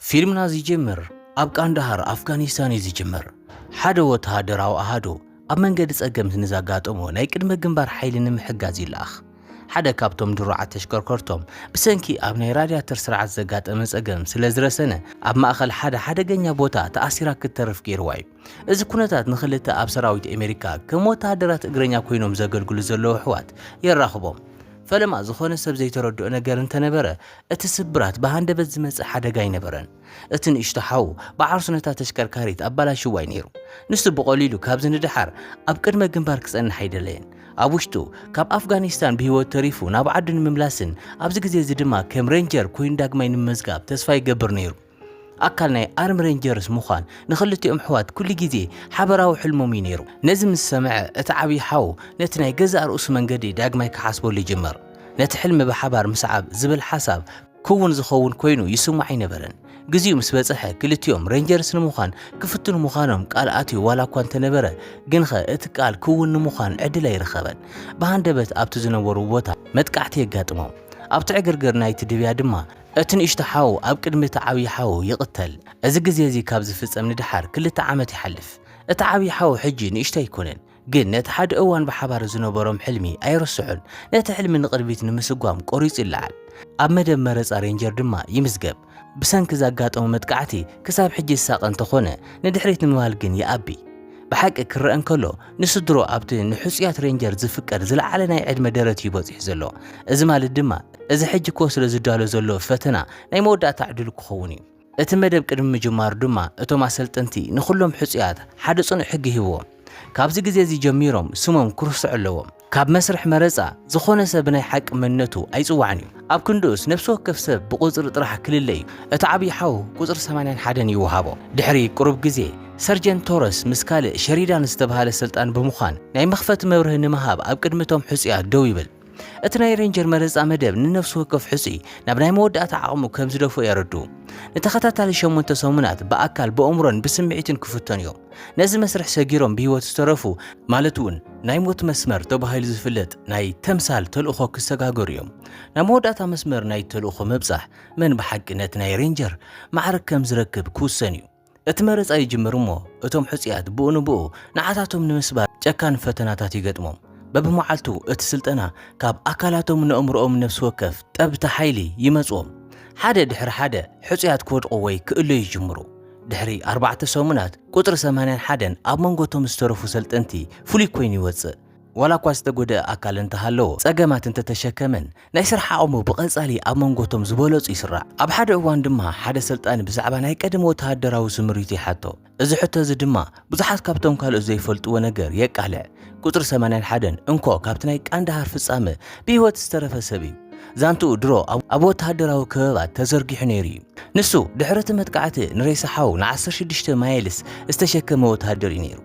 ፊልምና ዚጅምር ኣብ ቃንዳሃር፣ ኣፍጋኒስታን እዩ ዚጅምር። ሓደ ወተሃደራዊ ኣሃዱ ኣብ መንገዲ ጸገምት ንዘጋጠሞ ናይ ቅድመ ግንባር ሓይሊ ንምሕጋዝ ይለኣኽ። ሓደ ካብቶም ድሩዓት ተሽከርከርቶም ብሰንኪ ኣብ ናይ ራድያተር ስርዓት ዘጋጠመ ጸገም ስለ ዝረሰነ ኣብ ማእከል ሓደ ሓደገኛ ቦታ ተኣሲራ ክትተርፍ ገይርዋ እዩ። እዚ ኩነታት ንክልተ ኣብ ሰራዊት ኣሜሪካ ከም ወተሃደራት እግረኛ ኮይኖም ዘገልግሉ ዘለዉ ኣሕዋት የራኽቦም። ፈለማ ዝኾነ ሰብ ዘይተረድኦ ነገር እንተነበረ፣ እቲ ስብራት ብሃንደበት ዝመጽእ ሓደጋ ኣይነበረን። እቲ ንእሽቶ ሓው ብዓርሱ ነታ ተሽከርካሪት ኣባላሽዋ'ዩ ነይሩ። ንሱ ብቐሊሉ ካብዚ ንደሓር ኣብ ቅድመ ግንባር ክጸንሕ ኣይደለየን። ኣብ ውሽጡ ካብ ኣፍጋኒስታን ብህይወት ተሪፉ ናብ ዓዱ ንምምላስን ኣብዚ ግዜ'ዚ ድማ ከም ሬንጀር ኮይኑ ዳግማይ ንምምዝጋብ ተስፋ ይገብር ነይሩ። ኣካል ናይ ኣርም ሬንጀርስ ምዃን ንኽልቲኦም ኣሕዋት ኩሉ ግዜ ሓበራዊ ሕልሞም እዩ ነይሩ። ነዚ ምስ ሰምዐ፣ እቲ ዓብዪ ሓው ነቲ ናይ ገዛእ ርእሱ መንገዲ ዳግማይ ክሓስበሉ ይጅምር። ነቲ ሕልሚ ብሓባር ምስዓብ ዝብል ሓሳብ ክውን ዝኸውን ኰይኑ ይስምዖ ኣይነበረን። ግዜኡ ምስ በጽሐ፣ ክልቲኦም ሬንጀርስ ንምዃን ክፍትኑ ምዃኖም ቃል ኣትዩ ዋላ እኳ እንተ ነበረ፣ ግንኸ እቲ ቃል ክውን ንምዃን ዕድል ኣይረኸበን። ብሃንደበት ኣብቲ ዝነበርዎ ቦታ መጥቃዕቲ የጋጥሞም። ኣብቲ ዕግርግር ናይቲ ድብያ ድማ እቲ ንእሽቶ ሓው ኣብ ቅድሚ እቲ ዓብዪ ሓው ይቕተል። እዚ ግዜ እዚ ካብ ዝፍጸም ንደሓር ክልተ ዓመት ይሓልፍ። እቲ ዓብዪ ሓው ሕጂ ንእሽቶ ኣይኰነን፣ ግን ነቲ ሓደ እዋን ብሓባር ዝነበሮም ሕልሚ ኣይርስዖን። ነቲ ሕልሚ ንቕድሚት ንምስጓም ቈሪጹ ይለዓል። ኣብ መደብ መረጻ ሬንጀር ድማ ይምዝገብ። ብሰንኪ ዘጋጠሞ መጥቃዕቲ ክሳብ ሕጂ ዝሳቐ እንተዀነ፣ ንድሕሪት ንምባል ግን ይኣቢ። ብሓቂ ክረኣ እንከሎ ንስድርኡ ኣብቲ ንሕጹያት ሬንጀር ዝፍቀድ ዝለዓለ ናይ ዕድመ ደረት እዩ በጺሑ ዘሎ። እዚ ማለት ድማ እዚ ሕጂ ክወስዶ ዝዳሎ ዘሎ ፈተና ናይ መወዳእታ ዕድሉ ክኸውን እዩ። እቲ መደብ ቅድሚ ምጅማሩ ድማ እቶም ኣሰልጠንቲ ንኹሎም ሕጹያት ሓደ ጽኑዕ ሕጊ ሂብዎም፣ ካብዚ ግዜ እዚ ጀሚሮም ስሞም ክርስዑ ኣለዎም። ካብ መስርሕ መረጻ፣ ዝኾነ ሰብ ብናይ ሓቂ መንነቱ ኣይጽዋዕን እዩ። ኣብ ክንድኡስ፣ ነፍሲ ወከፍ ሰብ ብቑጽሪ ጥራሕ ክልለ እዩ። እቲ ዓብዪ ሓው ቁጽሪ ሰማንያን ሓደን ይወሃቦ። ድሕሪ ቁሩብ ግዜ፣ ሰርጀንት ቶረስ ምስ ካልእ ሸሪዳን ዝተበሃለ ሰልጣን ብምዃን፣ ናይ መኽፈቲ መብርሂ ንምሃብ ኣብ ቅድሚ እቶም ሕጹያት ደው ይብል። እቲ ናይ ሬንጀር መረጻ መደብ ንነፍሲ ወከፍ ሕጹይ ናብ ናይ መወዳእታ ዓቕሙ ከም ዝደፍኦ የረድኡ። ንተኸታታሊ ሸሞንተ ሰሙናት ብኣካል፣ ብእምሮን ብስምዒትን ክፍተኑ እዮም። ነዚ መስርሕ ሰጊሮም ብህይወት ዝተረፉ ማለት እውን ናይ ሞት መስመር ተባሂሉ ዝፍለጥ ናይ ተምሳል ተልእኾ ክሰጋገሩ እዮም። ናብ መወዳእታ መስመር ናይ ተልእኾ ምብጻሕ መን ብሓቂ ነቲ ናይ ሬንጀር ማዕርግ ከም ዝረክብ ክውሰን እዩ። እቲ መረጻ ይጅምር እሞ እቶም ሕጹያት ብኡ ንብኡ ንዓታቶም ንምስባር ጨካን ፈተናታት ይገጥሞም። በብመዓልቱ እቲ ስልጠና ካብ ኣካላቶም ነእምሮኦም ነፍሲ ወከፍ ጠብታ ሓይሊ ይመጽዎም። ሓደ ድሕሪ ሓደ ሕጹያት ክወድቁ ወይ ክእለዩ ይጅምሩ። ድሕሪ ኣርባዕተ ሰሙናት፣ ቁጽሪ ሰማንያን ሓደን ኣብ መንጎ እቶም ዝተረፉ ሰልጠንቲ ፍሉይ ኰይኑ ይወጽእ። ዋላኳ ዝተጐድኣ ኣካል እንተሃለዎ፣ ጸገማት እንተተሸከመን፣ ናይ ስራሕ ዓቕሙ ብቐጻሊ ኣብ መንጎ እቶም ዝበለጹ ይስራዕ። ኣብ ሓደ እዋን ድማ ሓደ ሰልጣኒ ብዛዕባ ናይ ቀደም ወተሃደራዊ ስምሪቱ ይሓቶ። እዚ ሕቶ እዚ ድማ ብዙሓት ካብቶም ካልኦት ዘይፈልጥዎ ነገር የቃልዕ። ቁጽሪ ሰማንያን ሓደን እንኮ ካብቲ ናይ ቃንዳሃር ፍጻመ ብህይወት ዝተረፈ ሰብ እዩ። ዛንትኡ ድሮ ኣብ ወተሃደራዊ ከበባት ተዘርጊሑ ነይሩ እዩ። ንሱ ድሕሪ እቲ መጥቃዕቲ ንሬሳ ሓው ንዓሰርተ ሽዱሽተ ማይልስ ዝተሸከመ ወተሃደር እዩ ነይሩ።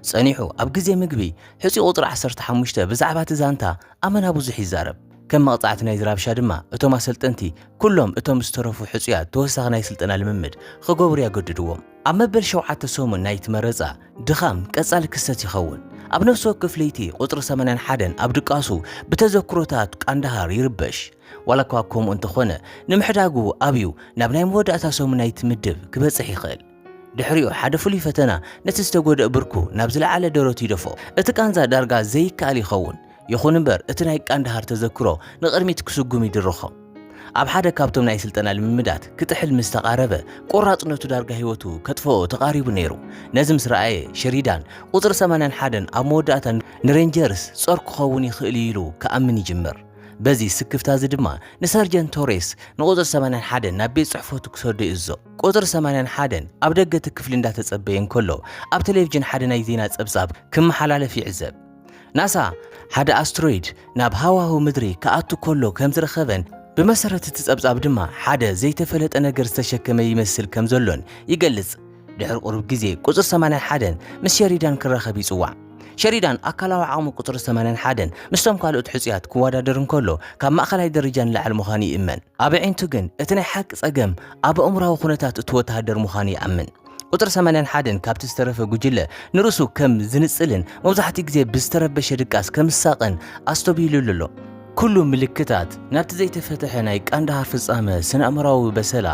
ጸኒሑ ኣብ ግዜ ምግቢ ሕጹይ ቁጽሪ ዓሰርተ ሓሙሽተ ብዛዕባ እቲ ዛንታ ኣመና ብዙሕ ይዛረብ። ከም መቕጻዕቲ ናይዚ ራብሻ ድማ እቶም ኣሰልጠንቲ ኩሎም እቶም ዝተረፉ ሕጹያት ተወሳኺ ናይ ስልጠና ልምምድ ኽገብሩ ያገድድዎም። ኣብ መበል ሸውዓተ ሰሙን ናይቲ መረጻ፣ ድኻም ቀጻሊ ክስተት ይኸውን። ኣብ ነፍሲ ወከፍ ለይቲ፣ ቁጽሪ ሰማንያን ሓደን ኣብ ድቃሱ ብተዘክሮታት ቃንዳሃር ይርበሽ። ዋላኳ ከምኡ እንተኾነ፣ ንምሕዳጉ ኣብዩ ናብ ናይ መወዳእታ ሰሙን ናይቲ ምድብ ክበጽሕ ይኽእል። ድሕሪኡ፣ ሓደ ፍሉይ ፈተና ነቲ ዝተጎድኣ ብርኩ ናብ ዝለዓለ ደረቱ ይደፍኦ። እቲ ቃንዛ ዳርጋ ዘይከኣል ይኸውን። ይኹን እምበር እቲ ናይ ቃንዳሃር ተዘክሮ ንቕድሚት ክስጉም ይድርኾ። ኣብ ሓደ ካብቶም ናይ ስልጠና ልምምዳት ክጥሕል ምስ ተቓረበ፣ ቆራጽነቱ ዳርጋ ህይወቱ ከጥፍኦ ተቓሪቡ ነይሩ። ነዚ ምስ ረኣየ፣ ሸሪዳን፣ ቁጽሪ ሰማንያን ሓደን ኣብ መወዳእታ ንሬንጀርስ ጾር ክኸውን ይኽእል እዩ ኢሉ ክኣምን ይጅምር። በዚ ስክፍታ እዚ ድማ ንሰርጀንት ቶሬስ ንቁጽሪ ሰማንያን ሓደን ናብ ቤት ጽሕፈቱ ክሰዶ ይእዝዞ። ቁጽሪ ሰማንያን ሓደን ኣብ ደገ እቲ ክፍሊ እንዳተጸበየ እንከሎ፣ ኣብ ተሌቭጅን ሓደ ናይ ዜና ጸብጻብ ክመሓላለፍ ይዕዘብ። ናሳ ሓደ ኣስትሮይድ ናብ ሃዋህው ምድሪ ክኣቱ ከሎ ከም ዝረኸበን ብመሰረት እቲ ጸብጻብ ድማ ሓደ ዘይተፈለጠ ነገር ዝተሸከመ ይመስል ከም ዘሎን ይገልጽ። ድሕሪ ቁሩብ ግዜ ቁጽሪ 81 ምስ ሸሪዳን ክራኸብ ይጽዋዕ። ሸሪዳን ኣካላዊ ዓቕሚ ቁጽሪ 81 ምስቶም ካልኦት ሕጹያት ክወዳደር እንከሎ ካብ ማእከላይ ደረጃ ንላዕሊ ምዃኑ ይእመን። ኣብ ኣዒንቱ ግን እቲ ናይ ሓቂ ጸገም ኣብ ኣእምሮኣዊ ኩነታት እቲ ወተሃደር ምዃኑ ይኣምን። ቁጽሪ ሰማንያን ሓደን ካብቲ ዝተረፈ ጉጅለ ንርእሱ ከም ዝንጽልን መብዛሕትኡ ግዜ ብዝተረበሸ ድቃስ ከም ዝሳቐን ኣስተብሂሉሉ ኣሎ። ኩሉ ምልክታት ናብቲ ዘይተፈትሐ ናይ ቃንዳሃር ፍጻመ ስነኣእምሮኣዊ በሰላ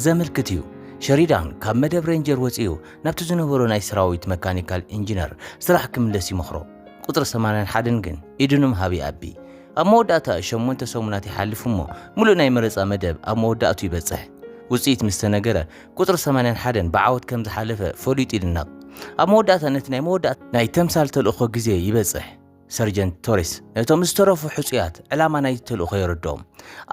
ዘመልክት እዩ። ሸሪዳን ካብ መደብ ሬንጀር ወጺኡ ናብቲ ዝነበሮ ናይ ሰራዊት መካኒካል ኢንጂነር ስራሕ ክምለስ ይመኽሮ። ቁጽሪ ሰማንያን ሓደን ግን ኢዱ ንምሃብ ይኣቢ። ኣብ መወዳእታ ሸሞንተ ሰሙናት ይሓልፍ እሞ ምሉእ ናይ መረጻ መደብ ኣብ መወዳእትኡ ይበጽሕ። ውጽኢት ምስ ተነገረ ቁጽሪ ሰማንያን ሓደን ብዓወት ከም ዝሓለፈ ፈሊጡ ይድነቕ። ኣብ መወዳእታ ነቲ ናይ መወዳእታ ናይ ተምሳል ተልእኾ ግዜ ይበጽሕ። ሰርጀንት ቶሬስ ነቶም ዝተረፉ ሕጹያት ዕላማ ናይቲ ተልእኾ የረድኦም።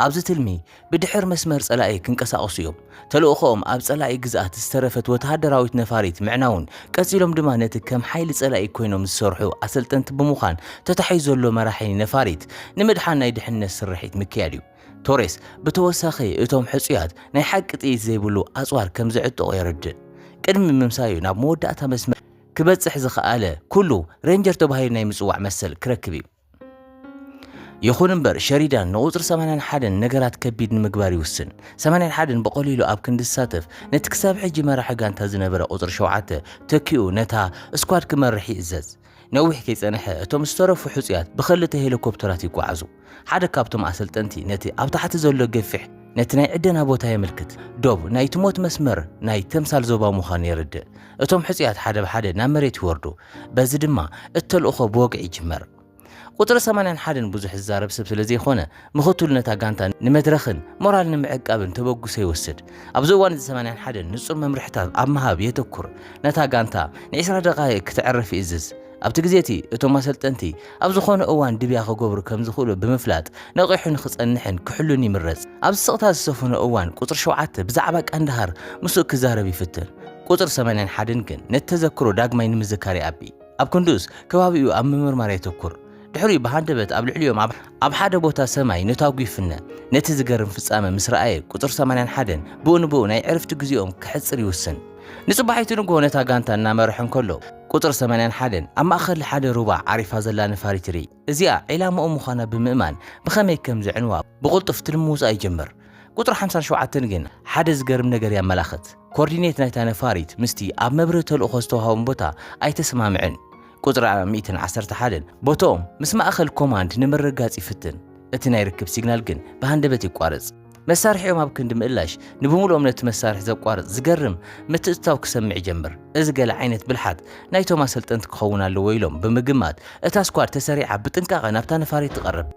ኣብዚ ትልሚ ብድሕር መስመር ጸላኢ ክንቀሳቐሱ እዮም። ተልእኾኦም ኣብ ጸላኢ ግዝኣት ዝተረፈት ወተሃደራዊት ነፋሪት ምዕናውን ቀጺሎም ድማ ነቲ ከም ሓይሊ ጸላኢ ኮይኖም ዝሰርሑ ኣሰልጠንቲ ብምዃን ተታሒዙ ዘሎ መራሒ ነፋሪት ንምድሓን ናይ ድሕነት ስርሒት ምክያድ እዩ። ቶሬስ ብተወሳኺ እቶም ሕጹያት ናይ ሓቂ ጥይት ዘይብሉ ኣጽዋር ከም ዝዕጠቑ የረድእ። ቅድሚ ምምሳዩ ናብ መወዳእታ መስመር ክበጽሕ ዝኸኣለ ኩሉ ሬንጀር ተባሂሉ ናይ ምጽዋዕ መሰል ክረክብ እዩ። ይኹን እምበር ሸሪዳን ንቁጽሪ ሰማንያን ሓደን ነገራት ከቢድ ንምግባር ይውስን። ሰማንያን ሓደን ብቐሊሉ ኣብ ክንዲ ዝሳተፍ ነቲ ክሳብ ሕጂ መራሒ ጋንታ ዝነበረ ቁጽሪ ሸውዓተ ተኪኡ ነታ ስኳድ ክመርሕ ይእዘዝ። ነዊሕ ከይጸንሐ እቶም ዝተረፉ ሕጹያት ብኸልተ ሄሊኮፕተራት ይጓዓዙ። ሓደ ካብቶም ኣሰልጠንቲ ነቲ ኣብ ታሕቲ ዘሎ ገፊሕ ነቲ ናይ ዕደና ቦታ የመልክት። ዶብ ናይቲ ሞት መስመር ናይ ተምሳል ዞባ ምዃኑ የረድእ። እቶም ሕጹያት ሓደ ብሓደ ናብ መሬት ይወርዱ፣ በዚ ድማ እቲ ተልእኾ ብወግዒ ይጅመር። ቁጽሪ ሰማንያን ሓደን ብዙሕ ዝዛረብ ሰብ ስለ ዘይኮነ፣ ምኽትሉ ነታ ጋንታ ንመድረኽን ሞራል ንምዕቃብን ተበግሶ ይወስድ። ኣብዚ እዋን እዚ ሰማንያን ሓደን ንጹር መምርሒታት ኣብ ምሃብ የተኩር፣ ነታ ጋንታ ንዒስራ ደቓይቕ ክተዕርፍ ይእዝዝ። ኣብቲ ግዜ እቲ፣ እቶም ኣሰልጠንቲ ኣብ ዝዀነ እዋን ድብያ ክገብሩ ከም ዝኽእሉ ብምፍላጥ፣ ነቒሑ ንኽጸንሕን ክሕሉን ይምረጽ። ኣብዚ ስቕታ ዝሰፈኖ እዋን፣ ቍጽሪ ሸውዓተ ብዛዕባ ቀንድሃር ምስኡ ክዛረብ ይፍትን። ቍጽሪ ሰማንያን ሓደን ግን ነቲ ተዘክሮ ዳግማይ ንምዝካር ይኣቢ። ኣብ ክንድኡስ፣ ከባቢኡ ኣብ ምምርማር የተኵር። ድሕሪኡ ብሃንደበት ኣብ ልዕሊኦም ኣብ ኣብ ሓደ ቦታ ሰማይ ነታጒ ይፍነ። ነቲ ዝገርም ፍጻመ ምስ ረኣየ፣ ቁጽሪ ሰማንያን ሓደን ብኡ ንብኡ ናይ ዕርፍቲ ግዜኦም ከሕጽር ይውስን። ንጽባሒቱ ንግሆ ነታ ጋንታ እናመርሐ እንከሎ፣ ቁጽሪ ሰማንያን ሓደን ኣብ ማእከል ሓደ ሩባ ዓሪፋ ዘላ ነፋሪት ይርኢ። እዚኣ ዒላማኡ ምዃና ብምእማን ብኸመይ ከም ዘዕንዋ ብቕልጡፍ ትልሚ ምውጻእ ይጅምር። ቁጽሪ ሓምሳን ሸውዓተን ግን ሓደ ዝገርም ነገር የመላኽት። ኮርዲኔት ናይታ ነፋሪት ምስቲ ኣብ መብርሂ ተልእኾ ዝተዋህቦም ቦታ ኣይተሰማምዕን። ቁጽሪ ሚእትን ዓሰርተ ሓደን ቦትኦም ምስ ማእከል ኮማንድ ንምርግጋጽ ይፍትን። እቲ ናይ ርክብ ሲግናል ግን ብሃንደበት ይቋረጽ። መሳርሒኦም ኣብ ክንዲ ምእላሽ ንብምሉኦም ነቲ መሳርሒ ዘቋርጽ ዝገርም ምትእትታው ክሰምዕ ይጀምር። እዚ ገለ ዓይነት ብልሓት ናይቶም ኣሰልጠንቲ ክኸውን ኣለዎ ኢሎም ብምግማት እታ ስኳድ ተሰሪዓ ብጥንቃቐ ናብታ ነፋሪት ትቐርብ።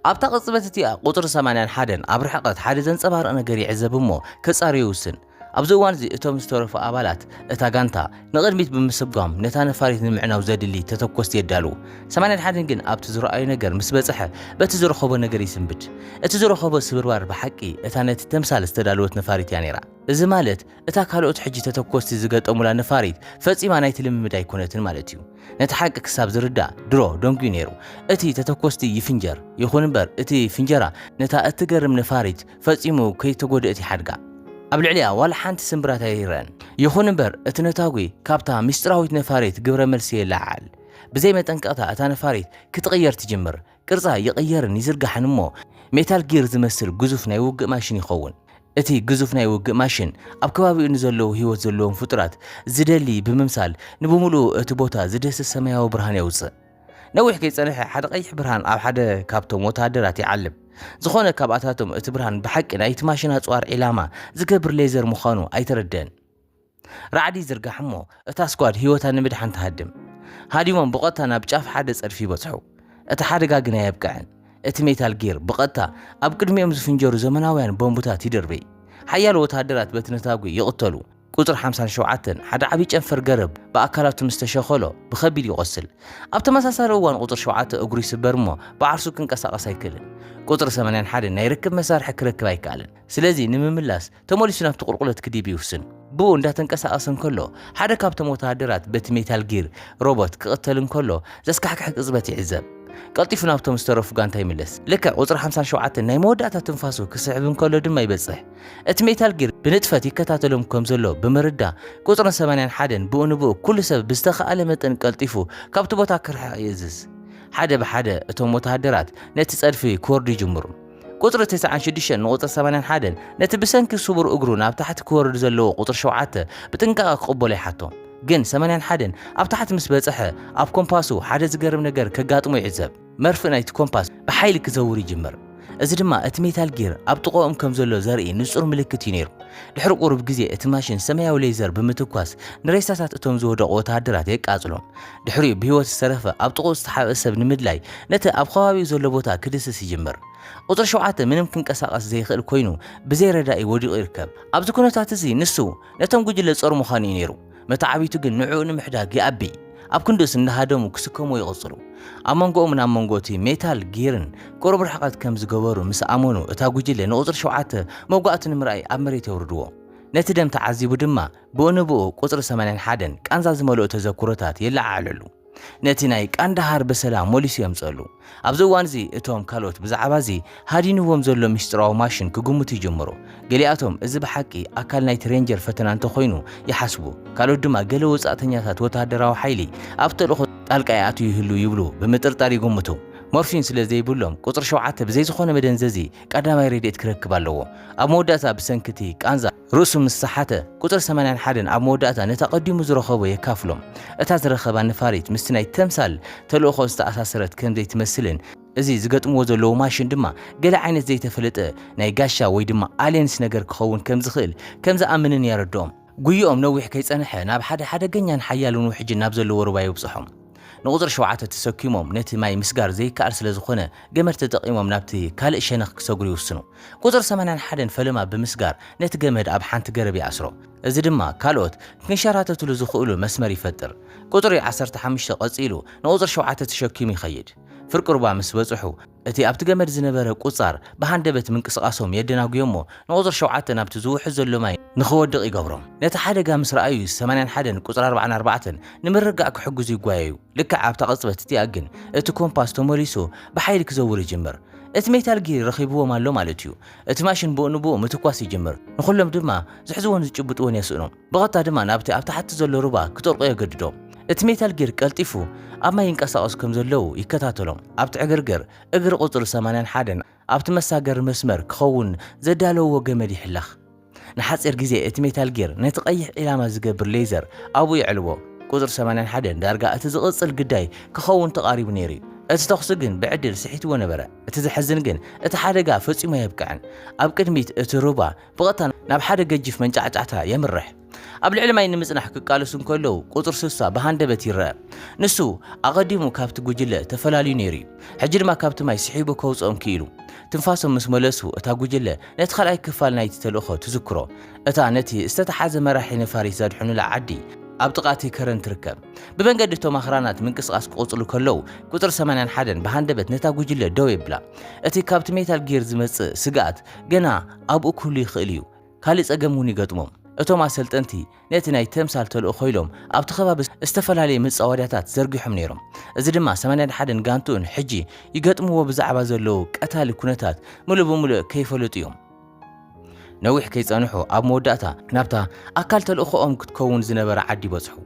ኣብታ ቅጽበት እቲኣ ቁጽሪ ሰማንያን ሓደን ኣብ ርሕቐት ሓደ ዘንጸባርቕ ነገር ይዕዘብ እሞ ከጻሪ ይውስን። ኣብዚ እዋን እዚ እቶም ዝተረፉ ኣባላት እታ ጋንታ ንቕድሚት ብምስጓም ነታ ነፋሪት ንምዕናው ዘድሊ ተተኮስቲ የዳልዉ። ሰማንያን ሓደን ግን ኣብቲ ዝረኣዮ ነገር ምስ በጽሐ በቲ ዝረኸቦ ነገር ይስንብድ። እቲ ዝረኸቦ ስብርባር ብሓቂ እታ ነቲ ተምሳል ዝተዳለወት ነፋሪት እያ ነይራ። እዚ ማለት እታ ካልኦት ሕጂ ተተኮስቲ ዝገጠሙላ ነፋሪት ፈጺማ ናይቲ ልምምድ ኣይኮነትን ማለት እዩ። ነቲ ሓቂ ክሳብ ዝርዳእ ድሮ ደንጉዩ ነይሩ። እቲ ተተኮስቲ ይፍንጀር፣ ይኹን እምበር እቲ ፍንጀራ ነታ እትገርም ነፋሪት ፈጺሙ ከይተጎድእት ይሓድጋ። ኣብ ልዕሊኣ ዋላ ሓንቲ ስምብራት ኣይረኣን። ይኹን እምበር እቲ ነታጒ ካብታ ምስጢራዊት ነፋሪት ግብረ መልሲ የለዓዕል። ብዘይ መጠንቀቕታ እታ ነፋሪት ክትቕየር ትጅምር። ቅርጻ ይቕየርን ይዝርጋሕን እሞ ሜታል ጊር ዝመስል ግዙፍ ናይ ውግእ ማሽን ይኸውን። እቲ ግዙፍ ናይ ውግእ ማሽን ኣብ ከባቢኡ ንዘለዉ ህይወት ዘለዎም ፍጡራት ዝደሊ ብምምሳል ንብምሉኡ እቲ ቦታ ዝደስስ ሰማያዊ ብርሃን የውጽእ። ነዊሕ ከይጸንሐ ሓደ ቀይሕ ብርሃን ኣብ ሓደ ካብቶም ወተሃደራት ይዓልብ። ዝኾነ ካብኣታቶም እቲ ብርሃን ብሓቂ ናይቲ ማሽን ኣጽዋር ዒላማ ዝገብር ሌዘር ምዃኑ ኣይተረድእን። ራዕዲ ይዝርጋሕ እሞ እታ ስኳድ ህይወታ ንምድሓን ትሃድም። ሃዲሞም ብቐጥታ ናብ ጫፍ ሓደ ጸድፊ ይበጽሑ። እቲ ሓደጋ ግን ኣየብቅዐን። እቲ ሜታል ጊር ብቐጥታ ኣብ ቅድሚኦም ዝፍንጀሩ ዘመናውያን ቦምብታት ይድርብይ። ሓያሎ ወተሃደራት በቲ ነታጒ ይቕተሉ። ቁጽሪ ሓምሳን ሸውዓተን፣ ሓደ ዓቢ ጨንፈር ገረብ ብኣካላቱ ምስ ተሸኸሎ ብኸቢድ ይቖስል። ኣብ ተመሳሳሊ እዋን ቁጽሪ ሸውዓተ እግሩ ይስበር እሞ ብዓርሱ ክንቀሳቐስ ኣይክእልን። ቁጽሪ ሰማንያን ሓደን ናይ ርክብ መሳርሒ ክረክብ ኣይከኣለን። ስለዚ ንምምላስ ተመሊሱ ናብቲ ቁልቁለት ክድይብ ይውስን። ብኡ እንዳተንቀሳቐሰ እንከሎ፣ ሓደ ካብቶም ወተሃደራት በቲ ሜታል ጊር ሮቦት ክቕተል እንከሎ ዘስካሕክሕ ቅጽበት ይዕዘብ። ቀልጢፉ ናብቶም ዝተረፉ ጋንታ ይምለስ። ልክዕ ቁጽሪ ሓምሳን ሸውዓተን ናይ መወዳእታ ትንፋሱ ክስሕብ እንከሎ ድማ ይበጽሕ። እቲ ሜታል ጊር ብንጥፈት ይከታተሎም ከም ዘሎ ብምርዳእ፣ ቁጽርን ሰማንያን ሓደን ብኡ ንብኡ ኩሉ ሰብ ብዝተኻእለ መጠን ቀልጢፉ ካብቲ ቦታ ክርሕቕ ይእዝዝ። ሓደ ብሓደ እቶም ወተሃደራት ነቲ ጸድፊ ክወርዱ ይጅምሩ። ቁጽሪ ትስዓን ሽዱሽተን ንቁጽሪ ሰማንያን ሓደን ነቲ ብሰንኪ ስቡር እግሩ ናብ ታሕቲ ክወርድ ዘለዎ ቁጽሪ ሸውዓተ ብጥንቃቐ ክቕበሎ ይሓቶ። ግን ሰማንያን ሓደን ኣብ ታሕቲ ምስ በጽሐ ኣብ ኮምፓሱ ሓደ ዝገርም ነገር ከጋጥሞ ይዕዘብ። መርፍእ ናይቲ ኮምፓስ ብሓይሊ ክዘውር ይጅምር። እዚ ድማ እቲ ሜታል ጊር ኣብ ጥቐኡም ከም ዘሎ ዘርኢ ንጹር ምልክት እዩ ነይሩ። ድሕሪ ቁሩብ ግዜ እቲ ማሽን ሰማያዊ ሌዘር ብምትኳስ ንሬሳታት እቶም ዝወደቑ ወተሃደራት የቃጽሎም። ድሕሪኡ ብህይወት ዝተረፈ ኣብ ጥቕኡ ዝተሓብአ ሰብ ንምድላይ ነቲ ኣብ ኸባቢኡ ዘሎ ቦታ ክድህስስ ይጅምር። ቁጽሪ ሸውዓተ ምንም ክንቀሳቐስ ዘይኽእል ኮይኑ ብዘይ ረዳኢ ወዲቑ ይርከብ። ኣብዚ ኩነታት እዚ ንሱ ነቶም ጉጅለ ጾር ምዃኑ እዩ ነይሩ። መተዓብይቱ ግን ንዕኡ ንምሕዳግ ይኣቢ። ኣብ ክንድኡስ እንዳሃደሙ ክስከምዎ ይቕጽሉ። ኣብ መንጎኦምን ኣብ መንጎ እቲ ሜታል ጊርን ቅሩብ ርሕቐት ከም ዝገበሩ ምስ ኣመኑ እታ ጉጅለ ንቁጽሪ ሸውዓተ መውጋእቱ ንምርኣይ ኣብ መሬት የውርድዎ። ነቲ ደም ተዓዚቡ ድማ ብኡ ንብኡ ቁጽሪ ሰማንያን ሓደን ቃንዛ ዝመልኦ ተዘክሮታት የለዓዕለሉ። ነቲ ናይ ቃንዳሃር ብሰላም መሊሱ የምጽኣሉ። ኣብዚ እዋን'ዚ እቶም ካልኦት ብዛዕባ'ዚ ሃዲንዎም ዘሎ ምስጢራዊ ማሽን ክግምቱ ይጅምሩ። ገሊኣቶም እዚ ብሓቂ ኣካል ናይቲ ሬንጀር ፈተና እንተኾይኑ ይሓስቡ፣ ካልኦት ድማ ገለ ወጻእተኛታት ወተሃደራዊ ሓይሊ ኣብ ተልእኾ ጣልቃ ይኣትው ይህልው ይብሉ ብምጥርጣር ይግምቱ። ሞርፊን ስለ ዘይብሎም፣ ቁጽሪ ሸውዓተ ብዘይ ዝኾነ መደንዘዚ ቀዳማይ ረድኤት ክረክብ ኣለዎ። ኣብ መወዳእታ ብሰንኪ'ቲ ቃንዛ። ርእሱ ምስ ሰሓተ፣ ቁጽሪ ሰማንያን ሓደን ኣብ መወዳእታ ነቲ ኣቐዲሙ ዝረኸቦ የካፍሎም። እታ ዝረኸባ ነፋሪት ምስቲ ናይ ተምሳል ተልእኾ ዝተኣሳሰረት ከም ዘይትመስልን እዚ ዝገጥምዎ ዘለዉ ማሽን ድማ ገለ ዓይነት ዘይተፈለጠ ናይ ጋሻ ወይ ድማ ኣልየንስ ነገር ክኸውን ከም ዝኽእል ከም ዝኣምንን የረድኦም። ጉይኦም ነዊሕ ከይጸንሐ ናብ ሓደ ሓደገኛን ሓያልን ውሕጅ ናብ ዘለዎ ሩባ የብጽሖም። ንቁጽሪ ሸውዓተ ተሰኪሞም ነቲ ማይ ምስጋር ዘይከኣል ስለ ዝኾነ ገመድ ተጠቒሞም ናብቲ ካልእ ሸነኽ ክሰግሩ ይውስኑ። ቁጽሪ ሰማንያን ሓደን ፈለማ ብምስጋር ነቲ ገመድ ኣብ ሓንቲ ገረብ ይኣስሮ። እዚ ድማ ካልኦት ክንሸራተትሉ ዝኽእሉ መስመር ይፈጥር። ቁጽሪ ዓሰርተ ሓሙሽተ ቀጺሉ ንቁጽሪ ሸውዓተ ተሸኪሙ ይኸይድ። ፍርቂ ሩባ ምስ በጽሑ፣ እቲ ኣብቲ ገመድ ዝነበረ ቁጻር ብሃንደበት ምንቅስቓሶም የደናጉዮ'ሞ ንቁጽሪ ሸውዓተ ናብቲ ዝውሕዝ ዘሎ ማይ ንኽወድቕ ይገብሮም። ነቲ ሓደጋ ምስ ረኣዩ ሰማንያን ሓደን ቁጽሪ ኣርባዓን ኣርባዕተን ንምርጋእ ክሕግዙ ይጓየዩ። ልክዕ ኣብታ ቅጽበት እቲኣ ግን እቲ ኮምፓስ ተመሊሱ ብሓይሊ ክዘውር ይጅምር። እቲ ሜታል ጊር ረኺብዎም ኣሎ ማለት'ዩ። እቲ ማሽን ብኡ ንብኡ ምትኳስ ይጅምር፣ ንኹሎም ድማ ዝሕዝዎን ዝጭብጥዎን የስእኑ። ብቐጥታ ድማ ናብቲ ኣብ ታሕቲ ዘሎ ሩባ ክጠልቑ የገድዶም። እቲ ሜታል ጊር ቀልጢፉ ኣብ ማይ ይንቀሳቐሱ ከም ዘለዉ ይከታተሎም። ኣብቲ ዕግርግር እግሪ ቁጽሪ ሰማንያን ሓደን ኣብቲ መሳገሪ መስመር ክኸውን ዘዳለውዎ ገመድ ይሕለኽ። ንሓጺር ግዜ እቲ ሜታል ጊር ነቲ ቀይሕ ዒላማ ዝገብር ሌዘር ኣብኡ የዕልዎ። ቁጽሪ ሰማንያን ሓደን ዳርጋ እቲ ዝቕጽል ግዳይ ክኸውን ተቓሪቡ ነይሩ'ዩ። እቲ ተኹሲ ግን ብዕድል ስሒትዎ ነበረ። እቲ ዘሕዝን ግን እቲ ሓደጋ ፈጺሙ ኣየብቅዐን። ኣብ ቅድሚት እቲ ሩባ ብቐጥታ ናብ ሓደ ገጂፍ መንጫዕጫዕታ የምርሕ። ኣብ ልዕሊ ማይ ንምጽናሕ ክቃለሱ እንከለዉ ቁጽሪ ስሳ ብሃንደበት ይረኣ። ንሱ ኣቐዲሙ ካብቲ ጉጅለ ተፈላልዩ ነይሩ'ዩ። ሕጂ ድማ ካብቲ ማይ ስሒቡ ከውጽኦም ክኢሉ። ትንፋሶም ምስ መለሱ እታ ጉጅለ ነቲ ካልኣይ ክፋል ናይቲ ተልእኾ ትዝክሮ። እታ ነቲ ዝተታሓዘ መራሒ ነፋሪት ዘድሕኑላ ዓዲ ኣብ ጥቓ'ቲ ከረን ትርከብ። ብመንገዲ እቶም ኣኽራናት ምንቅስቓስ ክቕጽሉ ከለዉ ቁጽሪ ሰማንያን ሓደን ብሃንደበት ነታ ጉጅለ ደው የብላ። እቲ ካብቲ ሜታል ጊር ዝመጽእ ስግኣት ግና ኣብኡ ክህሉ ይኽእል እዩ ካልእ ጸገም እውን ይገጥሞም። እቶም ኣሰልጠንቲ ነቲ ናይ ተምሳል ተልእኾ ኢሎም ኣብቲ ከባቢ ዝተፈላለየ መጻወድያታት ዘርጊሖም ነይሮም። እዚ ድማ ሰማንያን ሓደን ጋንትኡን ሕጂ ይገጥምዎ ብዛዕባ ዘለዉ ቀታሊ ኩነታት ምሉእ ብምሉእ ከይፈለጡ እዮም። ነዊሕ ከይጸንሑ ኣብ መወዳእታ ናብታ ኣካል ተልእኾኦም ክትከውን ዝነበራ ዓዲ በጽሑ።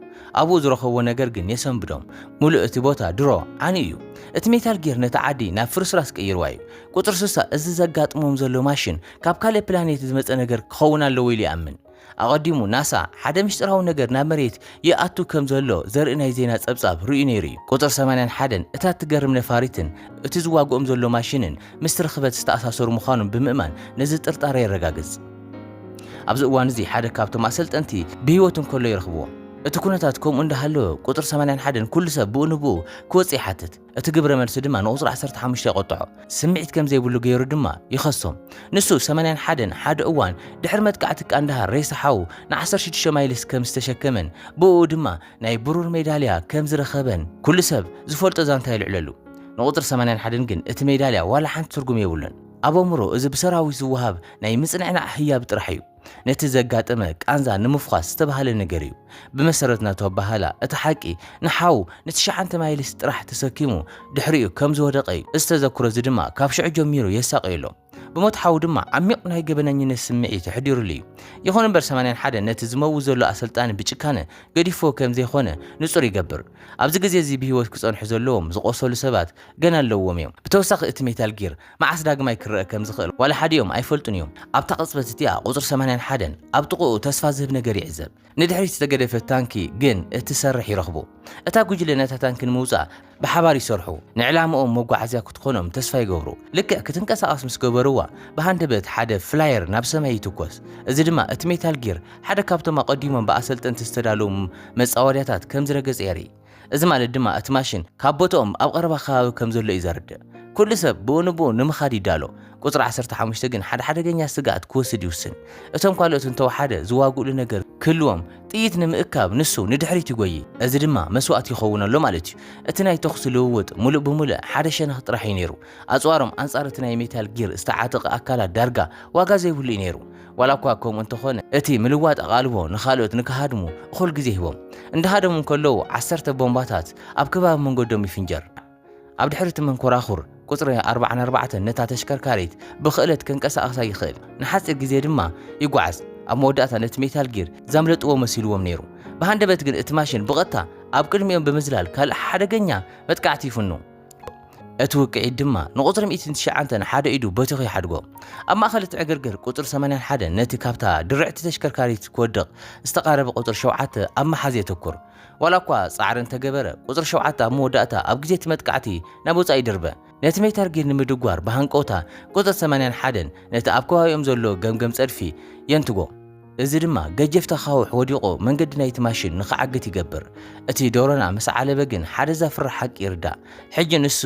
ኣብኡ ዝረኸብዎ ነገር ግን የሰንብዶም። ምሉእ እቲ ቦታ ድሮ ዓንዩ እዩ። እቲ ሜታል ጊር ነታ ዓዲ ናብ ፍርስራስ ቀይርዋ እዩ። ቁጽሪ ስሳ፣ እዚ ዘጋጥሞም ዘሎ ማሽን ካብ ካልእ ፕላኔት ዝመጸ ነገር ክኸውን ኣለዎ ኢሉ ይኣምን። ኣቐዲሙ፣ ናሳ ሓደ ምስጢራዊ ነገር ናብ መሬት ይኣቱ ከም ዘሎ ዘርኢ ናይ ዜና ጸብጻብ ርእዩ ነይሩ እዩ። ቁጽሪ ሰማንያን ሓደን፣ እታ እትገርም ነፋሪትን እቲ ዝዋግኦም ዘሎ ማሽንን ምስቲ ርኽበት ዝተኣሳሰሩ ምዃኖም ብምእማን ነዚ ጥርጣረ የረጋግጽ። ኣብዚ እዋን እዚ ሓደ ካብቶም ኣሰልጠንቲ ብህይወት እንከሎ ይረኽብዎ። እቲ ኵነታት ከምኡ እንዳሃለወ፣ ቁጽሪ ሰማንያን ሓደን ኵሉ ሰብ ብኡ ንብኡ ክወጽእ ይሓትት። እቲ ግብረ መልሲ ድማ ንቁጽሪ ዓሰርተ ሓሙሽተ የቖጥዖ፣ ስምዒት ከም ዘይብሉ ገይሩ ድማ ይኸሶም። ንሱ ሰማንያን ሓደን ሓደ እዋን ድሕሪ መጥቃዕቲ ቃንዳሃር ሬሳ ሓዉ ንዓሰርተ ሽዱሽተ ማይልስ ከም ዝተሸከመን ብእኡ ድማ ናይ ብሩር ሜዳልያ ከም ዝረኸበን ኩሉ ሰብ ዝፈልጦ ዛንታ የልዕለሉ። ንቁጽሪ ሰማንያን ሓደን ግን እቲ ሜዳልያ ዋላ ሓንቲ ትርጉም የብሉን። ኣብ ኣእምሮኡ እዚ ብሰራዊት ዝወሃብ ናይ ምጽንዕናዕ ህያብ ጥራሕ እዩ። ነቲ ዘጋጠመ ቃንዛ ንምፍዃስ ዝተባህለ ነገር እዩ። ብመሰረት ናቱ ኣበሃህላ፣ እቲ ሓቂ ንሓው ንትሽዓንተ ማይልስ ጥራሕ ተሰኪሙ ድሕሪኡ ከም ዝወደቐ እዩ። እዚ ተዘክሮ እዚ ድማ ካብ ሽዑ ጀሚሩ የሳቕዮ ኣሎ። ብሞት ሓው ድማ ዓሚቕ ናይ ገበነኝነት ስምዒት ኣሕዲሩሉ እዩ። ይኹን እምበር ሰማንያን ሓደን ነቲ ዝመውት ዘሎ ኣሰልጣኒ ብጭካነ ገዲፍዎ ከም ዘይኮነ ንጹር ይገብር። ኣብዚ ግዜ እዚ ብህይወት ክጸንሑ ዘለዎም ዝቖሰሉ ሰባት ገና ኣለዉዎም እዮም። ብተወሳኺ እቲ ሜታል ጊር መዓስ ዳግማይ ክረኣ ከም ዝኽእል ዋላ ሓዲኦም ኣይፈልጡን እዮም። ኣብታ ቅጽበት እቲኣ ቁጽሪ ሰማንያን ሓደን ኣብ ጥቕኡ ተስፋ ዝህብ ነገር ይዕዘብ። ንድሕሪት ዝተገደፈት ታንኪ ግን እትሰርሕ ይረኽቡ። እታ ጉጅለ ነታ ታንኪ ንምውጻእ ብሓባር ይሰርሑ። ንዕላምኦም መጓዓዝያ ክትኾኖም ተስፋ ይገብሩ። ልክዕ ክትንቀሳቐስ ምስ ገበርዋ ብሃንደበት ሓደ ፍላየር ናብ ሰማይ ይትኮስ። እዚ ድማ እቲ ሜታል ጊር ሓደ ካብቶም ኣቐዲሞም ብኣሰልጠንቲ ዝተዳለዉ መጻወድያታት ከም ዝረገጸ የርኢ። እዚ ማለት ድማ እቲ ማሽን ካብ ቦትኦም ኣብ ቐረባ ከባቢ ከም ዘሎ እዩ ዘርድእ። ኩሉ ሰብ ብኡ ንብኡ ንምኻድ ይዳሎ። ቁጽሪ ዓሰርተ ሓሙሽተ ግን ሓደ ሓደገኛ ስግኣት ክወስድ ይውስን። እቶም ካልኦት እንተወሓደ ዝዋግኡሉ ነገር ክህልዎም ጥይት ንምእካብ ንሱ ንድሕሪት ይጎዪ። እዚ ድማ መስዋእቲ ይኸውን ኣሎ ማለት እዩ። እቲ ናይ ተኹሲ ልውውጥ ምሉእ ብምሉእ ሓደ ሸነኽ ጥራሕ እዩ ነይሩ። ኣጽዋሮም ኣንጻር እቲ ናይ ሜታል ጊር ዝተዓጠቐ ኣካላት ዳርጋ ዋጋ ዘይብሉ እዩ ነይሩ። ዋላ እኳ ከምኡ እንተኾነ፣ እቲ ምልዋጥ ኣቓልቦ ንኻልኦት ንክሃድሙ እኹል ግዜ ሂቦም። እንዳሃደሙ እንከለዉ ዓሰርተ ቦምባታት ኣብ ከባቢ መንገዶም ይፍንጀር። ኣብ ድሕሪ እቲ መንኮራኹር ቁጽሪ ኣርብዓን ኣርባዕተን ነታ ተሽከርካሪት ብኽእለት ከንቀሳቕሳ ይኽእል፣ ንሓጺር ግዜ ድማ ይጓዓዝ። ኣብ መወዳእታ ነቲ ሜታል ጊር ዘምለጥዎ መሲልዎም ነይሩ። ብሃንደበት ግን እቲ ማሽን ብቐጥታ ኣብ ቅድሚኦም ብምዝላል ካልእ ሓደገኛ መጥቃዕቲ ይፍኑ። እቲ ውቅዒት ድማ ንቁጽሪ ሚእትን ትሽዓንተን ሓደ ኢዱ በቲኹ ይሓድጎ። ኣብ ማእኸል እቲ ዕግርግር ቁጽሪ ሰማንያን ሓደን ነቲ ካብታ ድርዕቲ ተሽከርካሪት ክወድቕ ዝተቓረበ ቁጽሪ ሸውዓተ ኣብ ምሓዝ የተኩር። ዋላ እኳ ጻዕሪ እንተገበረ ቁጽሪ ሸውዓተ ኣብ መወዳእታ ኣብ ግዜ እቲ መጥቃዕቲ ናብ ወጻኢ ይድርበ። ነቲ ሜታል ጊር ንምድጓር ብሃንቀውታ ቁጽሪ ሰማንያን ሓደን ነቲ ኣብ ከባቢኦም ዘሎ ገምገም ጸድፊ የንትጎ። እዚ ድማ ገጀፍቲ ኣኻውሕ ወዲቑ መንገዲ ናይቲ ማሽን ንኽዓግት ይገብር። እቲ ዶሮና ምስ ዓለበ ግን ሓደ ዘፍርሕ ሓቂ ይርዳእ። ሕጂ ንሱ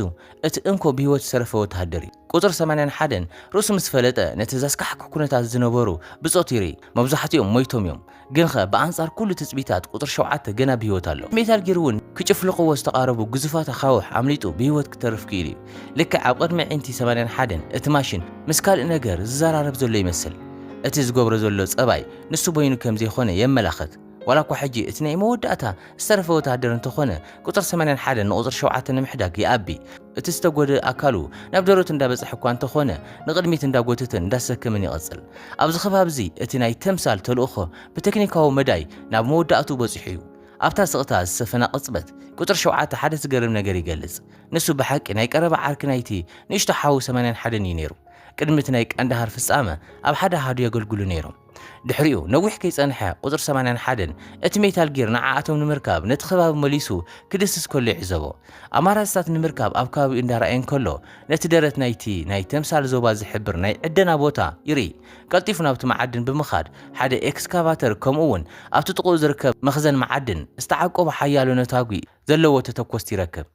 እቲ እንኮ ብህይወት ዝተረፈ ወተሃደር እዩ። ቁጽሪ ሰማንያን ሓደን ርእሱ ምስ ፈለጠ ነቲ ዘስካሕክሕ ኩነታት ዝነበሩ ብጾት ይርኢ። መብዛሕትኦም ሞይቶም እዮም። ግንኸ ብኣንጻር ኩሉ ትጽቢታት ቁጽሪ ሸውዓተ ገና ብህይወት ኣሎ። ሜታል ጊር እውን ክጭፍልቕዎ ዝተቓረቡ ግዙፋት ኣኻውሕ ኣምሊጡ ብህይወት ክተርፍ ክኢሉ እዩ። ልክዕ ኣብ ቕድሚ ኣዒንቲ ሰማንያን ሓደን እቲ ማሽን ምስ ካልእ ነገር ዝዘራረብ ዘሎ ይመስል። እቲ ዝገብሮ ዘሎ ጸባይ ንሱ በይኑ ከም ዘይኮነ የመላኽት። ዋላ እኳ ሕጂ እቲ ናይ መወዳእታ ዝተረፈ ወተሃደር እንተኾነ ቁጽሪ ሰማንያን ሓደን ንቁጽሪ ሸውዓተ ንምሕዳግ ይኣቢ። እቲ ዝተጎድእ ኣካሉ ናብ ደረቱ እንዳበጽሐ እኳ እንተኾነ ንቕድሚት እንዳጎተተን እንዳሰከመን ይቕጽል። ኣብዚ ከባቢ እዚ እቲ ናይ ተምሳል ተልእኾ ብተክኒካዊ መዳይ ናብ መወዳእትኡ በጺሑ እዩ። ኣብታ ስቕታ ዝሰፈና ቅጽበት ቁጽሪ ሸውዓተ ሓደ ዝገርም ነገር ይገልጽ። ንሱ ብሓቂ ናይ ቀረባ ዓርኪ ናይቲ ንእሽቶ ሓው ሰማንያን ሓደን እዩ ነይሩ። ቅድሚ እቲ ናይ ቃንዳሃር ፍጻመ ኣብ ሓደ ኣሃዱ የገልግሉ ነይሮም። ድሕሪኡ ነዊሕ ከይጸንሐ ቁጽሪ ሰማንያን ሓደን እቲ ሜታል ጊር ንዓኣቶም ንምርካብ ነቲ ከባቢ መሊሱ ክድስስ ከሎ ይዕዘቦ። ኣማራጺታት ንምርካብ ኣብ ከባቢኡ እንዳረኣየ እንከሎ ነቲ ደረት ናይቲ ናይ ተምሳል ዞባ ዝሕብር ናይ ዕደና ቦታ ይርኢ። ቀልጢፉ ናብቲ መዓድን ብምኻድ ሓደ ኤክስካቫተር ከምኡ'ውን ኣብቲ ጥቕኡ ዝርከብ መኽዘን መዓድን ዝተዓቆቡ ሓያሎ ነታጒ ዘለዎ ተተኮስቲ ይረክብ።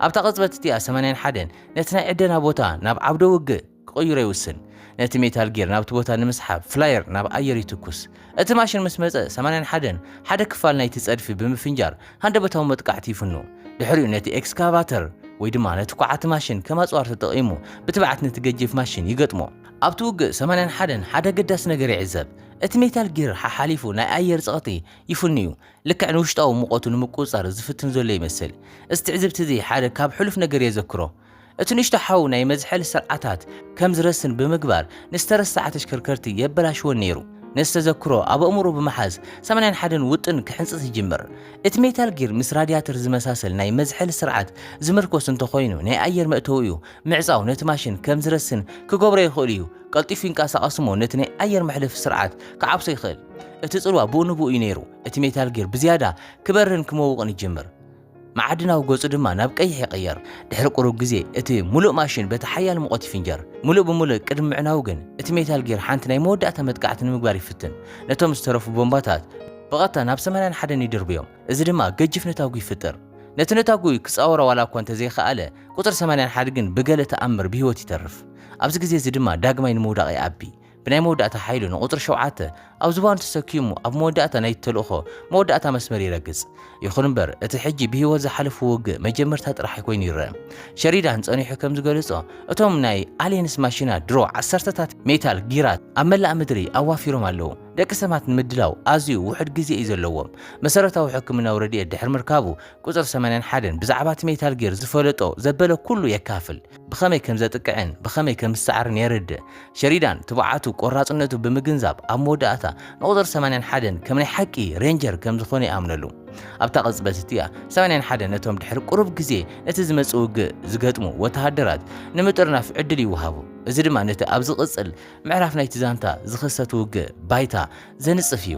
ኣብታ ቅጽበት እቲኣ ሰማንያን ሓደን ነቲ ናይ ዕደና ቦታ ናብ ዓውደ ውግእ ክቕይሮ ይውስን። ነቲ ሜታል ጊር ናብቲ ቦታ ንምስሓብ ፍላየር ናብ ኣየር ይትኩስ። እቲ ማሽን ምስ መጸ ሰማንያን ሓደን ሓደ ክፋል ናይቲ ጸድፊ ብምፍንጃር ሃንደበታዊ መጥቃዕቲ ይፍኑ። ድሕሪኡ ነቲ ኤክስካቫተር ወይ ድማ ነቲ ኳዓቲ ማሽን ከም ኣጽዋር ተጠቒሙ ብትብዓት ነቲ ገጂፍ ማሽን ይገጥሞ። ኣብቲ ውግእ ሰማንያን ሓደን ሓደ ኣገዳሲ ነገር ይዕዘብ። እቲ ሜታል ጊር ሓሓሊፉ ናይ ኣየር ጸቕጢ ይፍኑ'ዩ። ልክዕ ንውሽጣዊ ሙቐቱ ንምቁጽጻር ዝፍትን ዘሎ ይመስል። እዚ ትዕዝብቲ እዚ ሓደ ካብ ሕሉፍ ነገር የዘክሮ። እቲ ንእሽቶ ሓው ናይ መዝሐሊ ስርዓታት ከም ዝረስን ብምግባር ንዝተረስዓ ተሽከርከርቲ የበላሽወን ነይሩ። ነዚ ተዘክሮ ኣብ ኣእምሮኡ ብምሓዝ ሰማንያን ሓደን ውጥን ክሕንጽጽ ይጅምር። እቲ ሜታል ጊር ምስ ራድያተር ዝመሳሰል ናይ መዝሐሊ ስርዓት ዝምርኮስ እንተኾይኑ ናይ ኣየር መእተዊኡ ምዕጻው ነቲ ማሽን ከም ዝረስን ክገብሮ ይኽእል'ዩ። ቀልጢፉ ይንቀሳቐስ እሞ ነቲ ናይ ኣየር መሕለፊ ስርዓት ክዓብሶ ይኽእል። እቲ ጽልዋ ብኡ ንብኡ እዩ ነይሩ፣ እቲ ሜታል ጊር ብዝያዳ ክበርህን ክመውቕን ይጅምር፣ መዓድናዊ ገጹ ድማ ናብ ቀይሕ ይቕየር። ድሕሪ ቁሩብ ግዜ እቲ ምሉእ ማሽን በቲ ሓያል ሙቐት ይፍንጀር። ምሉእ ብምሉእ ቅድሚ ምዕናዉ ግን እቲ ሜታል ጊር ሓንቲ ናይ መወዳእታ መጥቃዕቲ ንምግባር ይፍትን፣ ነቶም ዝተረፉ ቦምባታት ብቐጥታ ናብ ሰማንያን ሓደን ይድርብዮም፣ እዚ ድማ ገጂፍ ነታጒ ይፍጥር። ነቲ ነታጒ ክጻወሮ ዋላ እኳ እንተዘይኸኣለ፣ ቁጽሪ ሰማንያ ሓድ ግን ብገለ ተኣምር ብህይወት ይተርፍ። ኣብዚ ግዜ እዚ ድማ ዳግማይ ንምውዳቕ ይኣቢ። ብናይ መወዳእታ ሓይሉ ንቁጽሪ ሸውዓተ ኣብ ዝባኑ ተሰኪሙ ኣብ መወዳእታ ናይቲ ተልእኾ መወዳእታ መስመር ይረግጽ። ይኹን እምበር እቲ ሕጂ ብህይወት ዝሓለፉ ውግእ መጀመርታ ጥራሕ ኮይኑ ይረኣ። ሸሪዳን ጸኒሑ ከም ዝገለጾ እቶም ናይ ኣልየንስ ማሽናት ድሮ ዓሰርተታት ሜታል ጊራት ኣብ መላእ ምድሪ ኣዋፊሮም ኣለዉ። ደቂ ሰማት ንምድላው ኣዝዩ ውሑድ ግዜ እዩ ዘለዎም። መሰረታዊ ሕክምናዊ ረድኤት ድሕሪ ምርካቡ ቁጽሪ ሰማንያን ሓደን ብዛዕባ እቲ ሜታል ጊር ዝፈለጦ ዘበለ ኩሉ የካፍል። ብኸመይ ከም ዘጥቅዕን ብኸመይ ከም ዝሰዓርን የረድእ። ሸሪዳን ትብዓቱ ቆራጽነቱ ብምግንዛብ ኣብ መወዳእታ ንቁጽሪ ሰማንያን ሓደን ከም ናይ ሓቂ ሬንጀር ከም ዝኾነ ይኣምነሉ። ኣብታ ቅጽበት እቲኣ ሰማንያን ሓደን ነቶም ድሕሪ ቁሩብ ግዜ ነቲ ዝመጽእ ውግእ ዝገጥሙ ወተሃደራት ንምጥርናፍ ዕድል ይወሃቦ። እዚ ድማ ነቲ ኣብ ዝቕጽል ምዕራፍ ናይቲ ዛንታ ዝኽሰት ውግእ ባይታ ዘንጽፍ እዩ።